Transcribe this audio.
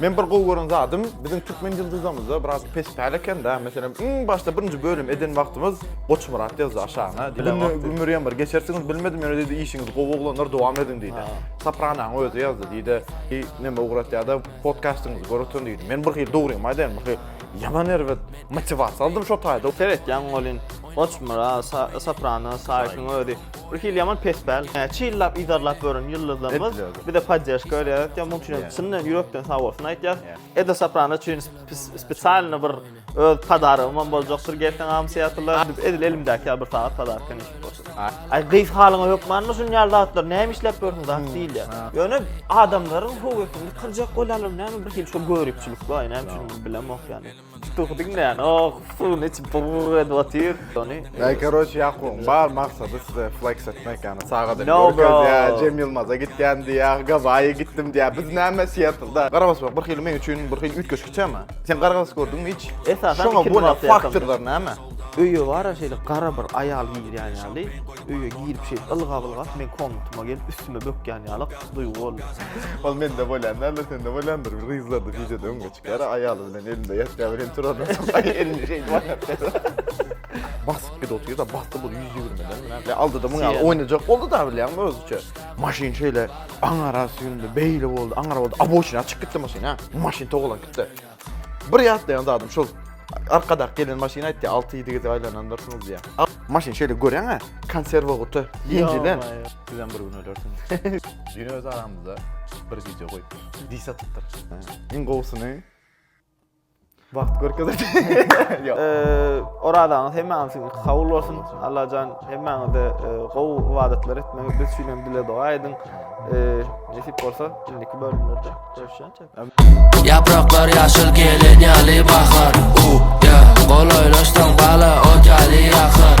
Men bir gowy gören zadym, biziň türkmen ýyldyzamyzda biraz pes päl eken-dä. Meselem, iň başda birinji bölüm eden wagtymyz Goçmyrat ýazdy aşagyna. Diýdi, Gümür ýamyr, geçersiňiz bilmedim, ýöne diýdi, işiňiz gowy oglanlar, dowam ediň diýdi. Sopranaň özi ýazdy, diýdi, Heý, näme ugratýa-da, podkastyňyzy gör otuň diýdi. Men bir hili dogrymy aýdaýyn, bir hili ýaman erbet motiwasiýa aldym şo taýda. Seretýäň welin, Goçmyrat, Soprano, Saýyşyň özi Bir hili ýaman pespäl. Näçe ýyllap yzarlap ýören ýyldyzlarymyz bize podderžka berýär. Ýa muň üçin çyndan ýürekden sag bolsun aýtýas. Eda Soprano üçin spesialny bir öz podarygym hem boljakdyr gelseň am Seattle. Edil elimdäki ýaly bir sagat podarka nesip bolsun. Aý gyz halyňa hökmanmy şun ýaly zatlar näme işläp ýörsiň zat diýilýär. Ýöne adamlaryň höwesini kyrjak bolýarlar näme bir hili şu göripçilik bar näme üçin bilemok ýani. Tutugy diňlän, oh, suwuny içip burr edip otyr. Ony. Ey, keroç, Ýakubyň bar maksady size flex etmek, ýagny sagat edip görkezýär, Cem Ýylmaza gitýän diýýär, Gawaýa gitdim diýýär. Biz näme Siýetlda? Garabasmak bir hili meň üçin bir hili üýtgeşik tema. Sen garabas gördüňmi hiç? Esasan şoňa bolan faktorlar näme? Öýe bara şeýle gara bir aýal girýän ýaly, öýe girip şeýle ylgap-ylgap meň komnatyma gelip üstüme bökýän ýaly duýgy bolýar. Ol mende bolýan däldir, sende bolýandyr, gyzlarda, wideoda öň geç. Gara aýaly bilen elinde ýatýar bilen turan. Elini şeýdip aýatýar. Basyp gidip otyr da basdy bu 120 den. Ýa aldy da muňa oýnajak boldy da bilýäňmi öz üçe. Maşyn şeýle aňara süýndi, beýle boldy, aňara boldy. Aboçina çyk gitdi maşyn ha. Maşyn togalan gitdi. Bir ýatlaýan zadym şol arkadak gelen maşyn aýtdy 6-7 gezek aýlanandyr şuňuz diýä. Maşyn şeýle görýän ha, konserwa guty, ýenjilen. Bizem bir gün ölersiň. Düýn öz aramyzda bir gije goýup. Dis atypdyr. Iň gowusyny wagt görkezer. Ýok. Orazaňyz hemmäňiziň kabul bolsun. Allajan hemmäňize gowy ibadatlar etmegi, biz üçin hem dile doga ediň. Nesip bolsa, indiki bölümlerde görüşýänçe. Yapraklar yaşıl gelin yalı bakar. U ya, kolaylaştan bala o yalı yakar.